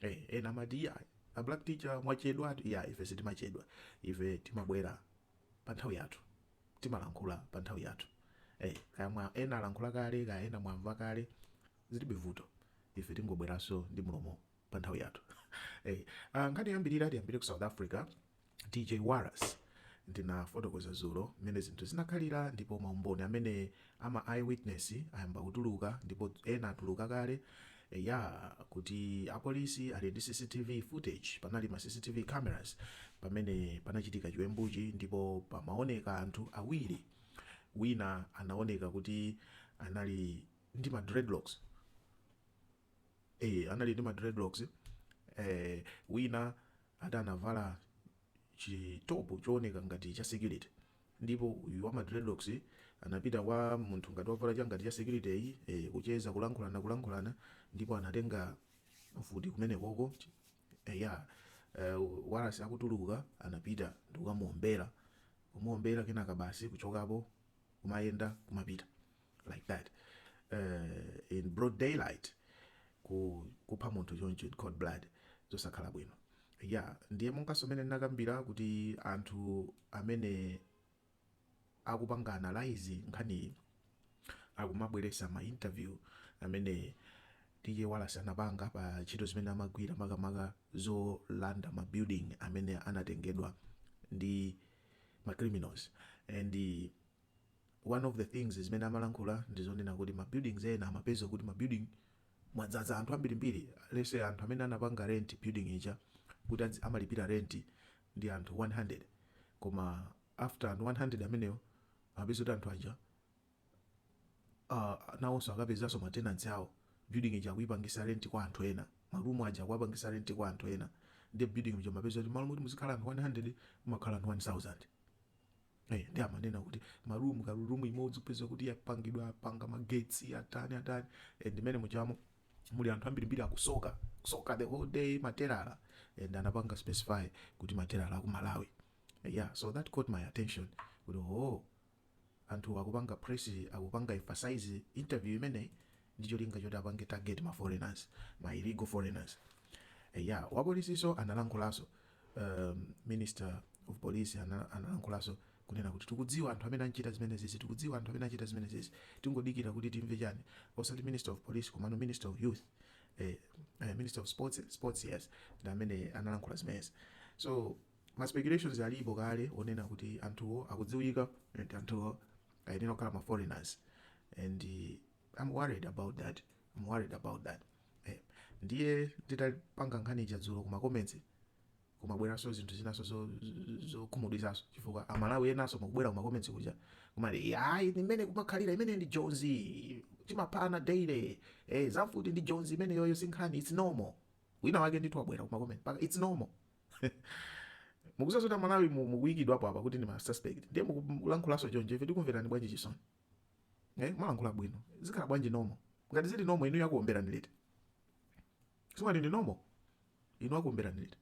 Eh, ena amati iya a black teacher mwachedwatu iya ife sitimachedwa ife timabwera pa nthawi yathu timalankhula pa nthawi yathu eh, kaya mwa ena alankhula kale kaya ena mwamva kale zilibe vuto ife tingobweranso ndi mulomo pa nthawi yathu eh, ah, nkhani yoyambirira tiyambire ku south africa DJ Warras, Ndinafotokoza dzulo mmene zinthu zinakhalira ndipo maumboni amene a ma eyewitness ayamba kutuluka ndipo ena atuluka kale eya kuti apolisi ali ndi CCTV footage, panali ma CCTV cameras pamene panachitika chiwembuchi ndipo pamaoneka anthu awiri, wina anaoneka kuti anali ndi ma dreadlocks. eh, anali ndi ma dreadlocks eh, wina ati anavala chitopu chooneka ngati cha security ndipo uyu wa ma dreadlocks anapita kwa munthu ngati wavala cha ngati cha security-yu eh, kucheza kulankhulana kulankhulana ndipo anatenga mfuti kumene koko eh, ya eh, Warras akutuluka anapita ndikukamuombera kumuombera kenaka basi kuchokapo kumayenda kumapita like that uh, in broad daylight ku kupha munthu choncho in cold blood zosakhala bwino ya ndiye monganso mmene ndinakambira kuti anthu amene akupanga analyze nkhaniyi akumabweresa ma interview amene DJ Warras anapanga pa ntchito zimene amagwira makamaka zolanda ma building amene anatengedwa ndi ma criminals and One of the things zimene amalankhula ndi zonena kuti ma buildings ena amapeza kuti ma building mwadzaza anthu ambirimbiri let's say anthu amene anapanga rent building ija kuti adzi- amalipira rent ndi anthu 100 koma after 100 amenewo amapeza kuti anthu aja uh, nawonso akapezanso ma tenants awo building ija akuyipangisa rent kwa anthu ena marumu aja akuwapangisa rent kwa anthu ena ndi building ija amapeza kuti malo moti muzikhala anthu 100 mumakhala anthu 1000 Eh, ndi amanena kuti marumu karumu imodzi kupeza kuti yapangidwa apanga magetsi atani atani eh, ndimene muchamo muli anthu ambirimbiri akusoka kusoka the whole day matelala and anapanga specify kuti matelala aku malawi Eh, yeah so that caught my attention kuti oh anthu akupanga press akupanga emphasize interview imeneyi ndi cholinga choti apange target ma foreigners, ma illegal foreigners. Eya, wapolisinso analankhulaso, ehm, minister of police analankhulaso kunena kuti tikudziwa anthu amene achita zimenezizi, tikudziwa anthu amene achita zimenezizi, tingodikira kuti timve chani, osati minister of police komano minister of youth, eh, eh, minister of sports, sports yes, ndi amene analankhula zimenezi. So, ma speculations alipo kale onena kuti anthuwo akudziwika and anthuwo ayenera kukhala ma foreigners and I'm worried about that, I'm worried about that eh, ndiye nditapanga nkhani ija dzulo ku ma comments kumabweranso zinthu zinaso zokhumudwitsaso zo chifukwa amalawi enaso mukubwera ku ma comments kuja kumati ayi mmene kumakhalira imene ndi jonzi timaphana daily eh, za mfuti ndi jonzi imeneyoyo si nkhani its normal wina wake ndithu wabwera ku ma comments paka its normal mukusaso kuti amalawi mukuyikidwapo apa kuti ndi ma suspect ndiye mukulankhulaso chonje ife tikumverani bwanji chisoni eh mwalankhula bwino zikhala bwanji normal ngati zili normal inuyo akuomberani liti si mwati ndi normal inu akuomberani liti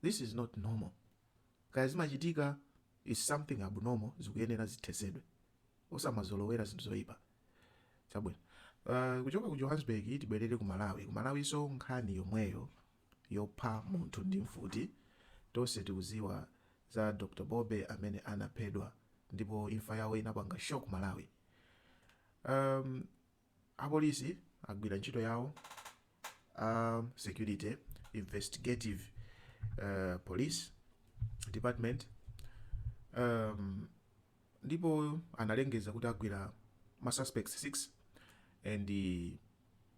this is not normal kaya zimachitika is something abnormal zikuyenera zithesedwe osamazolowera zinthu zoyipa chabwino uh, kuchoka ku johannesburg tibwerere ku malawi ku malawiso nkhani yomweyo yopha munthu ndi mfuti. Tonse tikuziwa za Dr Bobe amene anaphedwa ndipo imfa yawo inapanga shock Malawi. Um, apolisi agwira ntchito yawo a security investigative uh, police department um, ndipo analengeza kuti agwira ma suspects 6 and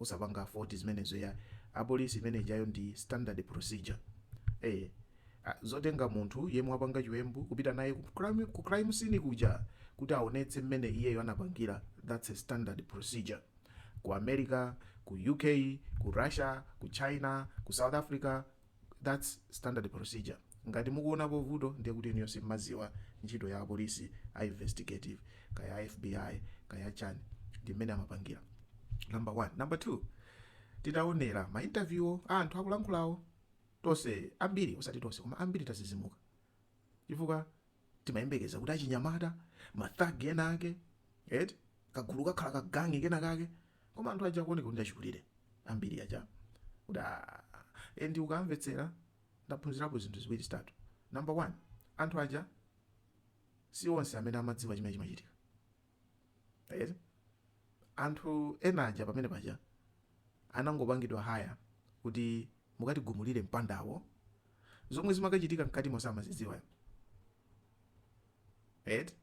osapanga fault zimenezo yayi apolisi imene ijayo ndi standard procedure ee a zotenga munthu yemwe wapanga chiwembu kupita naye ku crime, ku crime scene kuja kuti aonetse mmene iyeyo anapangira that's a standard procedure ku america ku uk ku russia ku china ku south africa That's standard procedure. Ngati mukuonapo vuto ndiye kuti inuyo simmaziwa ntchito ya apolisi a investigative kaya a FBI kaya chani ndi mmene amapangira. Number one. Number two. Titaonera ma interview a anthu akulankhulawo tonse ambiri osati tonse koma ambiri tazizimuka chifukwa timayembekeza kuti achinyamata ma thug ena ake eti kagulu kakhala ka gangi kena kake koma anthu aja akuoneka kuti ndi achikulire ambiri aja kuti "Ah, eh, ndi ukamvetsera ndaphunzirapo zinthu ziwiri zitatu number one anthu aja si onse amene amadziwa chimene chimachitika eti anthu ena aja pamene paja anangopangidwa hire kuti mukatigumulire mpandawo zomwe zimakachitika mkatimo samazidziwa eti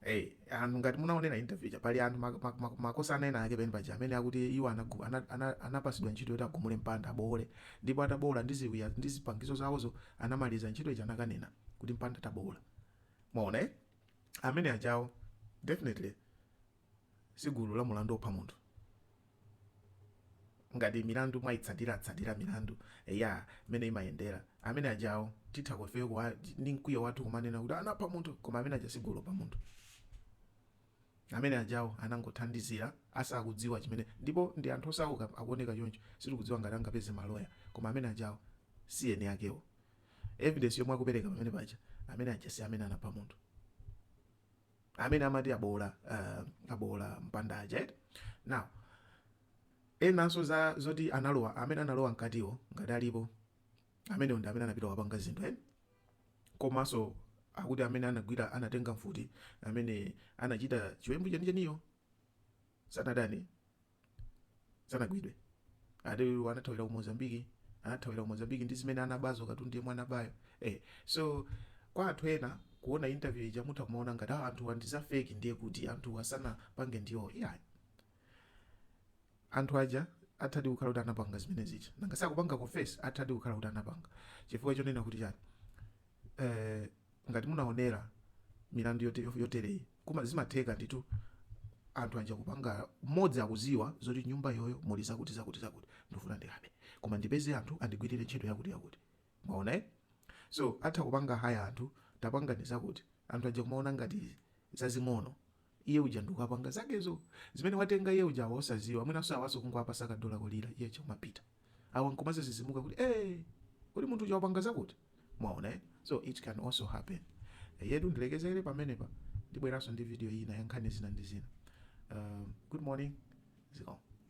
Hey, anthu ngati munaonera interview ija pali anthu mak- mak- mak- makosana ena ake pene paja amene akuti iwo anagu- ana- ana- anapasidwa ntchito yoti agumule mpanda abowole ndipo atabowola ndi ziwiya ndi zipangizo zawozo anamaliza ntchito ija anakanena kuti mpanda tabowola mwaona eh? amene ajawo definitely si gulu la mulandu opha munthu ngati milandu mwayitsatiratsatira milandu mmene imayendera amene ajawo titha ifeyo kuwa ndi mkwiyo wathu kumanena kuti anapha munthu koma amene aja si gulu lopha munthu amene ajawo anangothandizira asakudziwa chimene ndipo ndi anthu osauka akuoneka choncho sitikudziwa ngati angapeze maloya koma amene ajawo si eni akewo Evidence yomwe akupereka pamene paja amene aja si amene anapha munthu. Amene amati aboola uh, aboola mpanda aja eti. Now enanso za zoti analowa amene analowa mkatiwo ngati alipo amene ndi amene anapita wapanga zinthu eh? Komanso akuti amene anagwira anatenga mfuti amene anachita chiwembu chenicheniyo sanatani sanagwidwe ati uyu anathawira ku mozambiki anathawira ku mozambiki ndi zimene anabazo katundu yemwe anabayo eh, so kwa anthu ena kuona interview ija mutha kumaona ngati "Ah, anthuwa ndi za fake ndiye kuti anthuwa sanapange ndiwo iyayi anthu aja athadi kukhala kuti anapanga zimene zija nanga si akupanga confess athadi kukhala kuti anapanga chifukwa chonena kuti chani eh, ngati munaonera milandu yote- yotereyi Koma zimatheka ndithu anthu aja kupanga mmodzi akuziwa zoti nyumba iyoyo muli zakuti zakuti zakuti ndufuna ndikabe koma ndipeze anthu andigwirire ntchito yakuti yakuti mwaona eh so atha kupanga hire anthu tapangani zakuti anthu aja kumaona ngati zazing'ono iye uja nkukapanga zakezo zimene watenga iye uja awa osaziwa mwinanso awaso kungowapasa ka dollar kolira iye uja kumapita awa nkumazazizimuka kuti ee kodi munthu uja wapanga zakuti mwaona eh? so it can also happen yetu ndilekezere pamenepa ndibweranso ndi video ina ya nkhani zina ndi zina uh, good morning zikomo